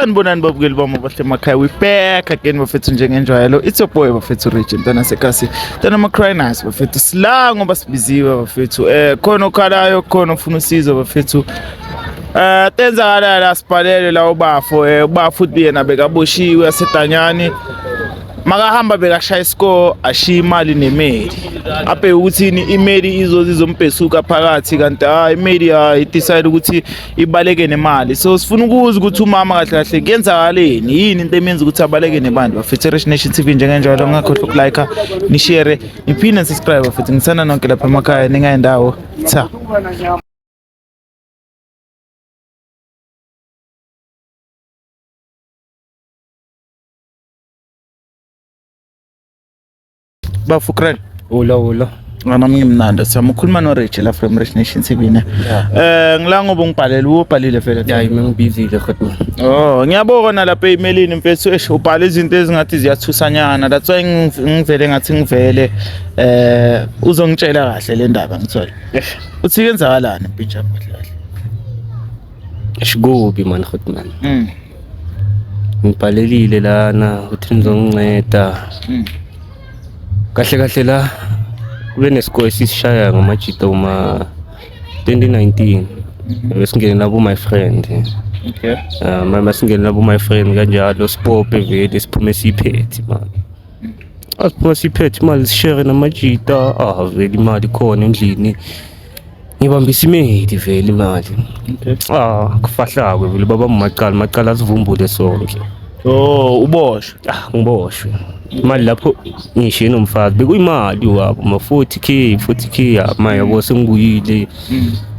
sanibonani babukeli bami abahle emakhaya we back again bafethu njengenjwayelo it's your boy bafethu region ntana sekasi ntana macrinus bafethu sila ngoba sibiziwe bafethu eh khona okhalayo khona ofuna usizo bafethu Eh tenzakala la sibhalele la ubafo eh ubafo uthi yena bekaboshiwe asedanyani makahamba bekashaya isikole ashiye imali nemeli abheke ukuthini imeli izoze izombhesuka phakathi kanti hayi imeli hayi decide ukuthi ibaleke nemali so sifuna ukuza ukuthi umama kahle kahle kuyenzakaleni yini into emenza ukuthi abaleke nebantu bafethe Rich Nation TV njengenjalo ngakhohlwa ukulike nishare niphinde subscribe futhi ngithanda nonke lapha emakhaya ningayendawo cha bafukrel ulo ulo ngana mnye mnanda siyama ukhuluma no Rich la from Rich Nation TV ne eh ngila ngoba ungibhalele ubhalile vele yeah mina ngibizile kodwa oh ngiyabona lapha emailini mfethu esh ubhala izinto ezingathi ziyathusanyana that's why ngivele ngathi ngivele eh uzongitshela kahle le ndaba ngithola uthi kenzakalani mpintsha kahle kahle shikubi man khotman mm ngibhalelile lana ukuthi nizonginceda hmm. kahle kahle la kube nesikole esisishaya ngamajita uma 2019 besingene labo my friend okay uh, mama singene labo my friend kanjalo sipope vele siphume siphethe mama asiphume siphethe imali sishere namajita ah vele imali khona endlini Ngibamba isimedi vele imali. Okay. Ah, kufahlakwe vele baba macala, macala sivumbule sonke. Oh, uboshwe. Ah, ngiboshwe. Imali lapho ngishiye nomfazi bekuyimali wabo ma 40k 40k ya ma yabo sengibuyile.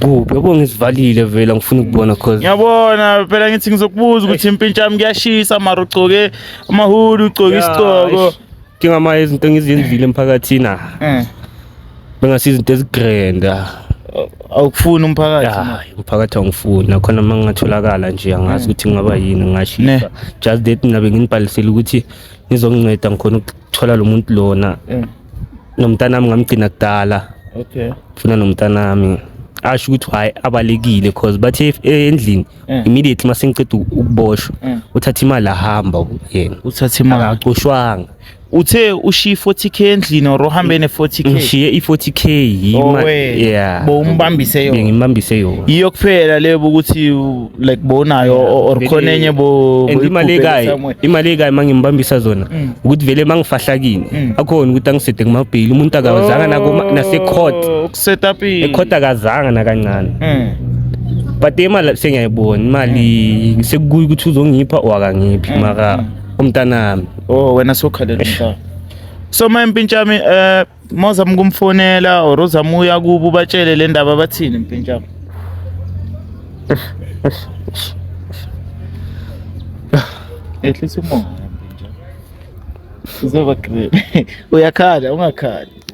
Kuphi yabo ngisivalile vele ngifuna ukubona cause Ngiyabona phela ngithi ngizokubuza ukuthi impintshami kuyashisa mara ugcoke amahulu ugcoke Ya, isigqoko. eish. Njengama izinto engizenzile emphakathini ah. Eh. Bengasi izinto ezigrand. Ah. Awukufuni umphakathi. Hayi, umphakathi awungifuni. Nakhona uma ngingatholakala nje angazi ukuthi ngingaba yini ngashisa. Just that mina benginibhalisile ukuthi ngizokunceda ngikhona ukuthola lo muntu lona. Eh. Nomntanami ngamgcina kudala. Okay. Funa nomntanami. Asho ukuthi hayi abalekile because bathe endlini Eh. immediately uma sengiceda ukuboshwa eh. uthatha imali ahamba yena uthatha imali akacoshwanga uthe ushiye 40k endlini or uhambe ne 40k ngishiye i 40k yima yeah bo umbambise yona ngimbambise yona yiyo kuphela lebo ukuthi like bonayo or khona enye bo imali ekayi imali ekayi mangimbambisa zona mm. ukuthi vele mangifahlakini mm. akhona ukuthi angisede kumabhili umuntu akawazanga nako nase court oh, setapini ekhotakazanga nakancane eh but imali sengiyayibona imali sekukuyi ukuthi uzongipha or akangiphi eh. mara umntanami oh wena sokhalela umntana so ma mpintshami eh mozama ukumfonela or uzama uya kubo batshele le ndaba bathini mpintshami ehlisa umoya mpintshami uzoba great uyakhala ungakhali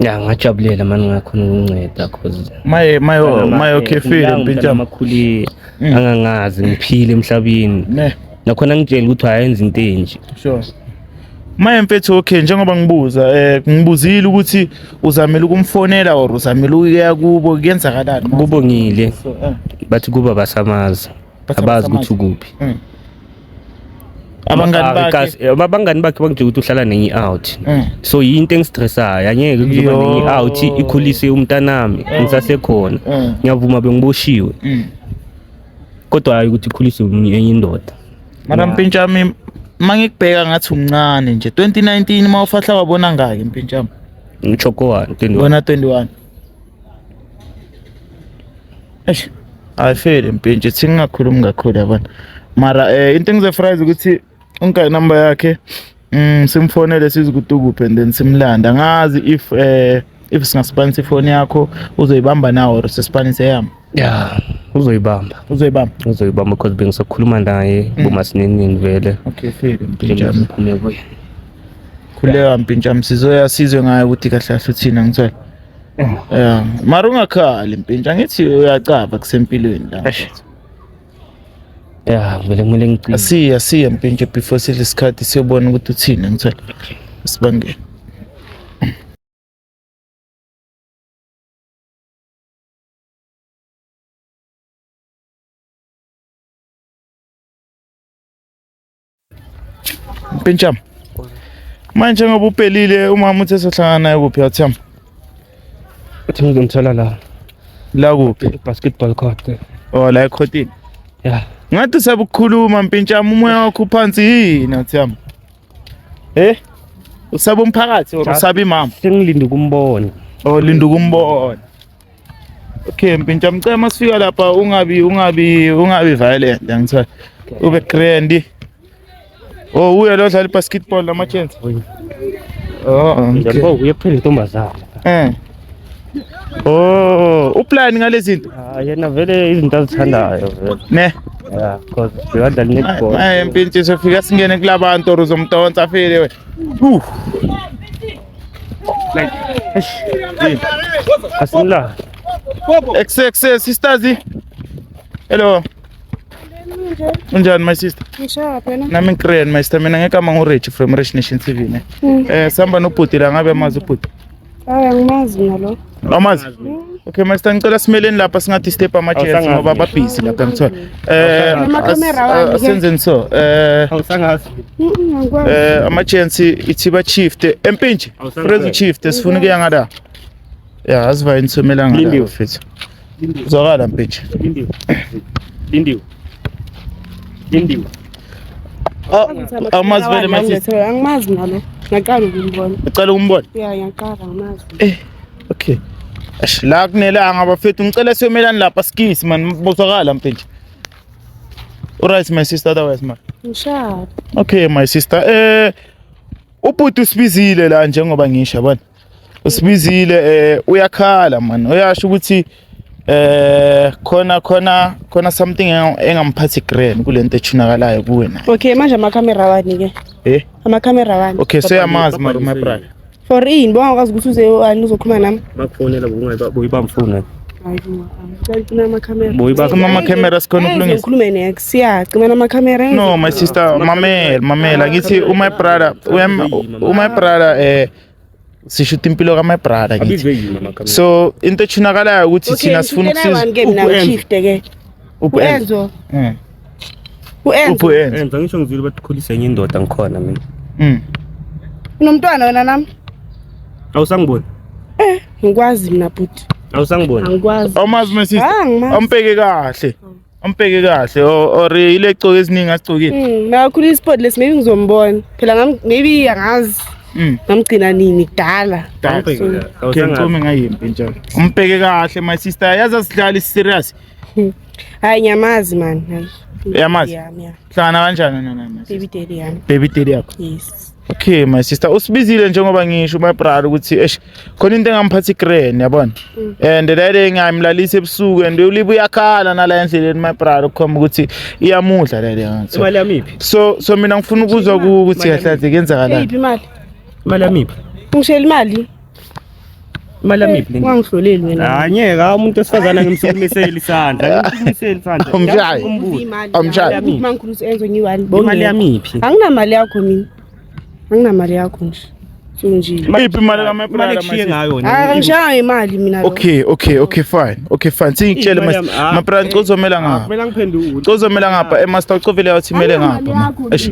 Ya ngajabulela mani ngakhona ukunceda cause maye maye maye okhefile impintshana amakhulile mm. angangazi ngiphile emhlabeni nakhona ngitshela ukuthi ayenza into enje sure Maye mfethu okay njengoba ngibuza eh ngibuzile ukuthi uzamela ukumfonela or uzamela ukuya kubo kuyenzakalani kubongile eh. bathi kuba basamaza abazi ukuthi ukuphi mm. abangani Ah, bakhe ikazi- eh, abangani bakhe bangitshela ukuthi uhlala nenye i-out Eh. so yinto engistressayo angeke kuzoba Yo. nenye i-out ikhulise umntanami ngisasekhona Eh. ngiyavuma bengiboshiwe Mm. kodwa hayi ukuthi ikhulise omunye- enye indoda mara mpintshami uma ngikubheka ngathi umncane nje 2019 uma ufahla wabona ngaki mpintshami ngitsho kowani 21 bona 21 eish ayifeli mpintshi thi ngingakhulumi kakhulu yabona mara eh into engizoyifurayiza ukuthi ungika inamba yakhe mm simfonele size ukuthi ukuphi and then simlanda ngazi if eh if singasibhanisa ifoni yakho uzoyibamba nawo or sisibhanise yami ya uzoyibamba uzoyibamba uzoyibamba cause bengisakhuluma naye mm. bomasinenini vele okay file mpinjami phume kuye khuleka mpinjami sizoya sizwe ngayo ukuthi kahle kahle uthina ngithola ya mara ungakhali mpintsha ngithi uyacaba kusempilweni la ya vele kumele ngicine asiya siya mpintsha before sidle isikhathi siyobona ukuthi uthini ngithola sibangele Pincham. Manje ngoba upelile umama uthe sohlangana naye kuphi yathamba? Uthi ngizomthola la. La kuphi? Basketball court. Oh la ekhotini. Yeah. Ngathi usabukhuluma mpintshama umoya wakho uphansi yini athiyami. Eh? Usaba umphakathi or usaba imama? Sengilinde ukumbona. Oh linda ukumbona. Okay, mpintsha mcela masifika lapha ungabi ungabi ungabi violent ngithola. Ube grand. Oh, uye lo dlala basketball lama chance. Oh, njengoba oh, uye kuphela intombazana. Eh. Oh, uplan ngalezi zinto? Ah, yena vele izinto azithandayo vele. Ne. Yeah, because uyadlala netball. Ay, mpintsha sofika singene kulabantu or uzomdonsa file we. Uh. Like, eish, eh, asimla. Ex ex eh, sisters. eh. Hello. Unjani my sister? Ngishaya phela. Nami ngikren my sister mina ngekama nguRich from Rich Nation TV ne. Eh sihamba nobhuti la ngabe amazi ubhuti. Hayi angimazi mina lo. Awumazi? Okay, master ngicela simeleni lapha singathi step ama chairs Awusangazi. ngoba babhizi lapha ngithola. Eh Awusangazi. as- Camera wami, eh, asenzeni so. Eh Awusangazi. Mm, angikwazi. eh ama chairs ithi ba shift empinji. Awusangazi. Prezi shift sifuna ukuya ngada. Yeah, asivayi nisomela ngada. Lindiwe. mfethu. Zwakala mpeche. Lindiwe. Lindiwe. Lindiwe. Ah, Awumazi vele masisi. Angimazi nalo. Ngaqala ukumbona. Ucela ukumbona? Yeah, ngiyaqala angimazi. Eh. Okay. Ash la kunelanga bafethu ngicela siyomelani lapha skisi man bozwakala mpeche. Alright my sister otherwise man. Ngishaya. Okay my sister. Eh ubhuti usibizile la njengoba ngisho yabona. usibizile eh uyakhala man uyasho ukuthi eh khona khona khona something engamphathi grand kulento echunakalayo kuwe na okay manje ama camera wani ke eh ama camera wani okay so yamazi my my brother for in bonga kwazi ukuthi uze wani uzokhuluma nami bakufonela bokungayiba boyibamfuna Cima amakhamera sikhona ukulungisa. Ukhulume nex. Yeah, cima amakhamera. No, my sister, mamela, mamela. Ngithi uma brother, uma brother eh sishuta impilo ka my brother ngithi so into ethunakalayo ukuthi thina sifuna ukusiza uenzo eh. uenzo uenzo ngisho ngizwile bathi khulisa enye indoda ngikhona mina mm unomntwana wena nami awusangiboni eh ngikwazi mina bhuti awusangiboni angikwazi awumazi my sister ah, ampeke kahle Ampeke kahle or ile coke esiningi asicokile. Mm, makakhulu isport lesi maybe ngizombona. Phela ngam maybe angazi. Mm. Ngamgcina nini kudala. Ke ngicome ngayimpi nje. Umpeke kahle my sister yazi asidlali serious. Hmm. Hayi nyamazi man. Hayi. Yamazi. Hlangana kanjani nana? Baby daddy yami. Baby daddy yakho. Yes. Okay my sister usibiziile njengoba ngisho my brother ukuthi eish khona into engamphatha igreni yabona mm. and that day ngayimlalisa ebusuku and ulibe uyakhala nala endleleni my brother ukukhomba ukuthi iyamudla le leyo imali yamiphi so so mina ngifuna ukuzwa ukuthi kahle kahle kenzakala iphi imali imali yamiphi ngishela imali imali yamiphi le ungangihloleli wena hayi ngeke umuntu osifazana ngimsukumisela isandla ngimsukumisela isandla amshayi amshayi imali yamiphi anginamali yakho mina anginamali yakho nje sunjile mayiphi imali kamapulala manje ngayo angishaya ngemali mina okay okay okay fine okay fine singitshele mase mapulala ngicozomela ngapha kumele ngiphendule ngicozomela ngapha emaster ucovile yathi imele ngapha eish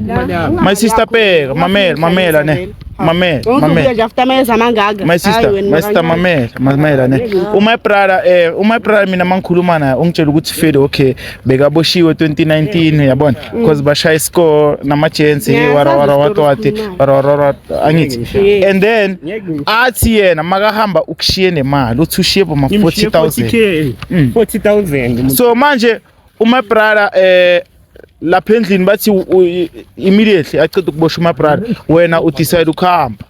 my sister bheka mamela mamela ne mamela mamela after my zamangaka my sister my sister mamela mamela ne uma ibrala eh uma ibrala mina mangikhuluma naye ungitshela ukuthi fede okay bekaboshiwe 2019 yabona mm. because bashaye iscore namajensi yeah, warawara watwati warawara angithi yeah. and then athi yena makahamba ukushiye nemali uthi ushiye boma 40000 40000 mm. so manje uma brother eh lapha endlini bathi immediately aceda ukubosha uma brother wena u decide ukuhamba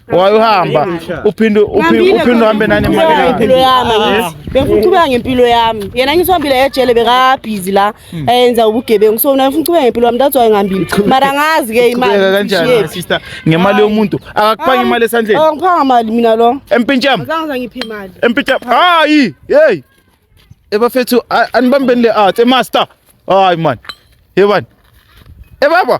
wayohamba uphinde uphinde uhambe nani ngempilo yami ah. bengifuna uqhubeka ngempilo yami yena ngithi uhambile ejele bekabhizi la hmm. ayenza ubugebengu so mina ngifuna uqhubeka ngempilo yami that's why ngihambile mara ngazi ke imali kanjani sister ngemali yomuntu akakuphanga imali esandleni angiphanga mali mina lo empintsham azange ngiphe imali empintsham hayi hey ebafethu anibambeni le art emaster hayi man yebani ebaba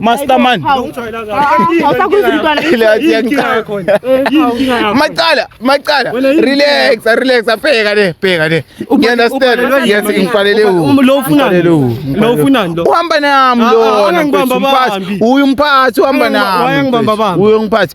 Master man. Macala, macala. Relax, relax. Bheka le, bheka le. You understand? Yes, ngifalele u. Lo ufunani? Lo ufunani lo? Uhamba nami lona. Uyu mphathi uhamba nami. Uyu mphathi.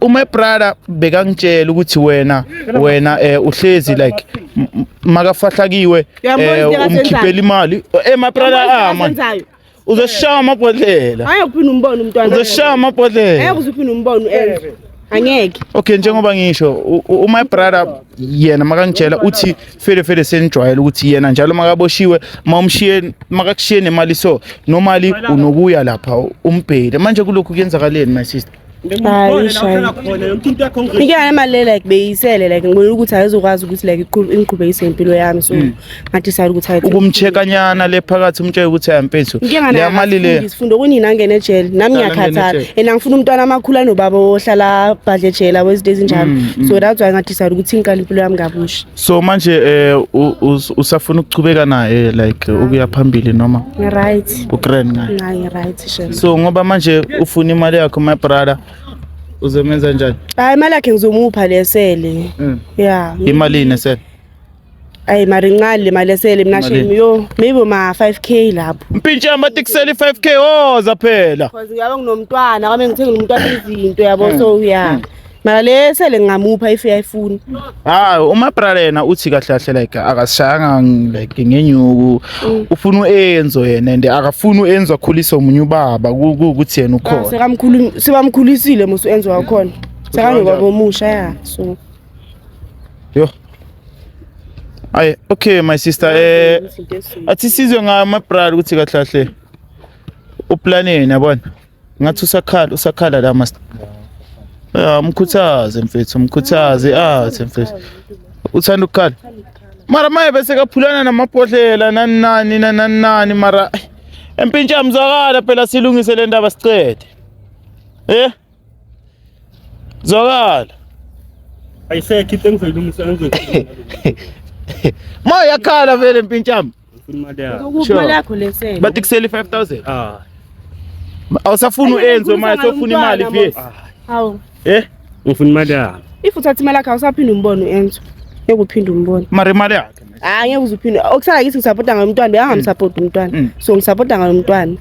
uma brother bekangitshela ukuthi wena wena eh uhlezi like makafahlakiwe eh umkhiphela imali eh my brother ah man uzoshaya amabhodlela hayi uphinde umbone umntwana uzoshaya amabhodlela hayi uzophinde umbone uenze angeke okay njengoba ngisho uma brother yena makangitshela uthi fele fele senijwayele ukuthi yena njalo makaboshiwe mawumshiye makakushiye nemali so nomali unokuya lapha umbhele manje kulokhu kuyenzakaleni my sister ike ayemali like beyisele like ngibona ukuthi ayizokwazi ukuthi like ingiqhubekise impilo yami so hmm. ngadecide ukuthi ayi ukumchekanyana le phakathi umtshela ukuthi ayampenso leyamali le ngifunda kunina angene ejele nami ngiyakhathala and angifuna umntwana amakhulu anobaba ohlala badle ejele awezinto ezinjalo hmm, hmm. so that's why ngadecide ukuthi ngiqala impilo yami kabusha So manje eh usafuna ukuchubeka naye like ukuya phambili noma? Ngi right. U grand ngaye. Ngi right shema. So ngoba manje ufuna imali yakho my brother uzomenza njani? Hayi imali yakhe ngizomupha lesele. Mm. Yeah. Imali ine sele. Ayi mari ncane le mali esele mina shame yo maybe ma 5k lapho. Mpintshe amatikuseli 5k oza phela. Cause uyabe nginomntwana kwame ngithengile umntwana izinto yabo so yeah. Mm. mara le sele ngingamupha if uyayifuna hayi uma bralena uthi kahle kahle like akasishayanga like ngenyuku mm. ufuna uenzo yena and akafuni uenzo akhulise omunye ubaba ukuthi yena ukhona sekamkhulu sebamkhulisile musu enzo wakhona sekangekwa bomusha ya so yo ayi okay my sister eh athi sizwe ngama brother ukuthi kahle kahle uplaneni yabona ngathi usakhala usakhala la mas ya mkhuthaze mfethu mkhuthaze athi mfethu uthanda ukukhala mara maye bese kaphulana namabhodlela nani nani nani nani mara empintsha mzwakala phela silungise le ndaba sicede eh zwakala ayisekho into engizoyilungisa engizoyilungisa ma yakhala vele mpintshami Ngifuna imali yakho. Ngokuphi Sure. imali yakho lesele? bathi kusele i-five thousand Ah. awusafuni Ayi, uenze ngifuna manje sofuna ngalo imali mntwana, phi Ah. Hawu. Eh? Ngifuna imali yakho. If uthatha imali yakho awusaphinde umbone uEnzo. Ngeke uphinde umbone. mara imali yakhe Hayi ngeke uzuphinde. Okusala kithi ngisapota ngalomntwana, bekangamsapoti umntwana. Mm. So ngisapota ngalomntwana.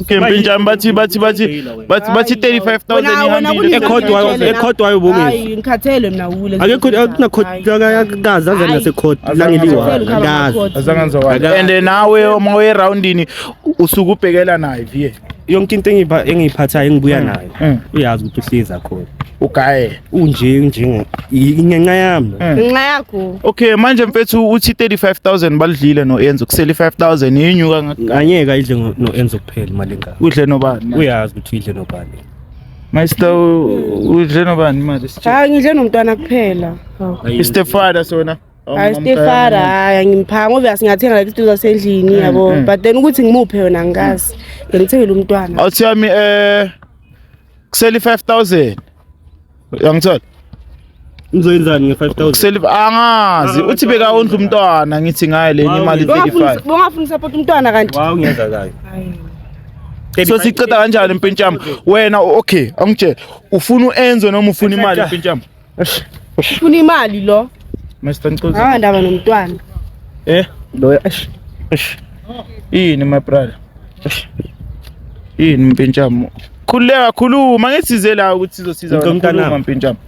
Campaign jam bathi bathi bathi bathi bathi 35000 ihambile ekhodwayo ekhodwayo bokuthi hayi ngikhathele mina wule akekho akunakhotha kaza aze nase court langeliwa kaza azanganza wa and nawe uma we roundini usuku ubhekela naye vie yonke into engiphathayo engibuya mm. nayo mm. uyazi ukuthi usiza khona ugaye unje unje ingenxa yami eh. ngenxa yakho okay manje mfethu uthi 35000 balidlile no Enzo kusele 5000 yenyuka nganyeka idle no Enzo kuphela imali engaka udle nobani uyazi ukuthi idle nobani Master udle nobani imali sithe hayi ngidle nomntwana kuphela istefada sona hayi stefara hayi angimphanga ngoba asingathenga like izinto zasendlini mm, yabo mm. but then ukuthi ngimuphe yona ngikazi ngimthengele umntwana awuthi yami eh kuseli 5000 uyangithola Uzoyenzani nge 5000? Kuseli angazi uthi beka ondla umntwana ngithi ngaye lenye imali 35. Bongafuna support umntwana kanti. Wow ngiyaza kayo. So siqeda kanjani impintshama? Wena okay, angitshela. Ufuna uenze noma ufuna imali impintshama? Ufuna imali lo. Mr Ncozi. Ah ndaba nomntwana. Eh, lo eish. Eish. Yini my brother? Eish. Yini mpintshamo? Khuleka khuluma ngisize la ukuthi sizosiza wena khuluma mpintshamo.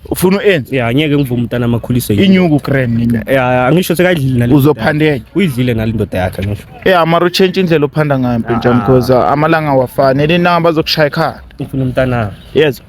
Ufuna uenze? Yeah, ngeke ngivume umntana amakhuliso yini. Inyuku cream nini? Yeah, angisho sekayidlile nalo. Uzophandeka. Uyidlile nalo indoda yakhe ngisho. Yeah, amara uchange indlela ophanda ngayo mpintshamo because ah, amalanga awafani. Elina bazokushaya ekhaya. Ufuna umntana. Yezwa.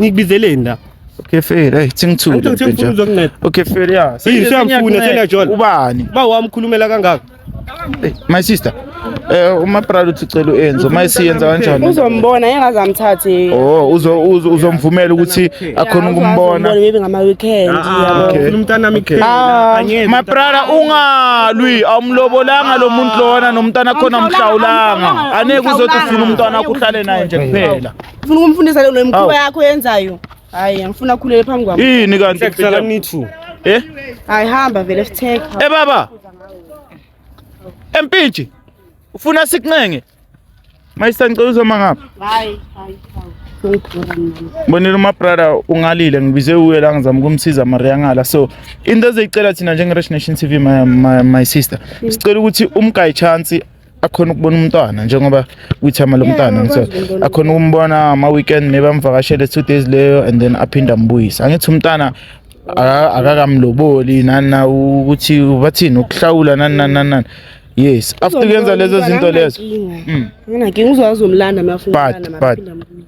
Ngikubizeleni la. Okay fair, hey thingithule. Angithi ngifuna mfethu. uzokunceda. Okay fair ya. Yini siyamfuna sena John. Ubani? Ba wamkhulumela kangaka. Hey, my sister. Eh uma Prado uthi cela uenze, uma isiyenza kanjani? Uzombona engaze amthathe. Oh, uzo uzo- uzomvumela ukuthi akhona ukumbona. Maybe ngama weekend. Ah, Okay. ufuna umntanami Okay. kuphela. Angeke. My brother ungalwi awumlobolanga lo muntu lona nomntana khona mhlawulanga. Aneke uzothi ufuna umntwana wakho uhlale naye nje kuphela. Ufuna ukumfundisa le mkhuba yakho yenzayo. Hayi, angifuna akhulele phambi kwami. Yini kanti kusala nithu? Eh? Hayi hamba vele sitheke. Eh baba. Empintshi. Ufuna sikunenge? Mayisangicela uzoma ngapha. Hayi, hayi, hayi. bonile uma brother ungalile ngibize uye la ngizama ukumsiza mari yangala so into ezeyicela thina njenge-rich nation tv my, my, my sister sicela ukuthi umgayi chance akhona ukubona umntwana njengoba uyithama lomntwana ngithe akhona ukumbona ama weekend maybe amvakashele two days leyo and then aphinde ambuyise angithi umntana akakamloboli nana ukuthi bathini ukuhlawula nani nani nani yes after kuyenza lezo zinto lezo hmm. nginankinga uzozomlanda mafuna but but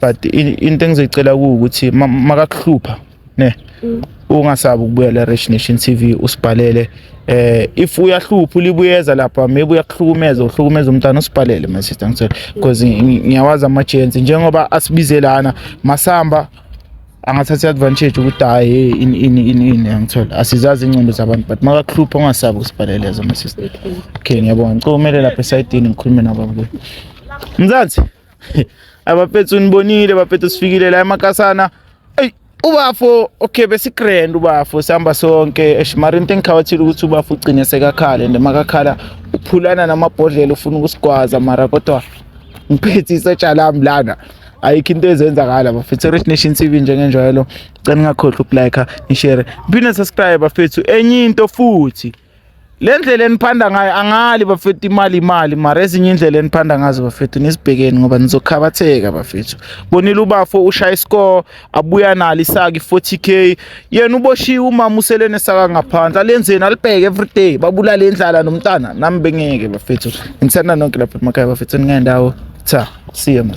but into engizoyicela ukuthi makakuhlupha ne mm. ungasabi ukubuya la Rich Nation TV usibhalele eh if uyahlupha ulibuyeza lapha maybe uyakuhlukumeza uhlukumeza umntana usibhalele my sister ngicela because ngiyawazi ama chance njengoba asibizelana masamba angathatha advantage ukuthi hayi ini ini ini ini angithola asizazi ingqondo zabantu but makakuhlupha ungasabi usibhalele as my sister okay ngiyabonga ngicela umele lapha esayidini ngikhulume nabo mzansi abafethu nibonile bafethu sifikile la emakasana eyi ubafo okay besigrand ubafo sihamba sonke eshimari into engikhawathile ukuthi ubafo ugcine sekakhale and makakhala uphulana namabhodlela ufuna ukusigwaza mara kodwa ngiphethe isetsha lami lana ayikho into ezenzakala bafethu rich nation tv njengenjwayelo cela ningakhohlwa ukulike nishare phinde subscribe bafethu enye into futhi le ndlela eniphanda ngayo angali bafethu imali imali mara ezinye indlela eniphanda ngazo bafethu nisibhekeni ngoba nizokhabatheka bafethu bonile ubafo ushaya iscore abuya nalo isaki 40k yena uboshiwe umama uselene saka ngaphandle alenzeni alibheke everyday babulale indlala nomntana nami bengeke bafethu ngithanda nonke lapha emakhaya bafethu ningendawo cha see you man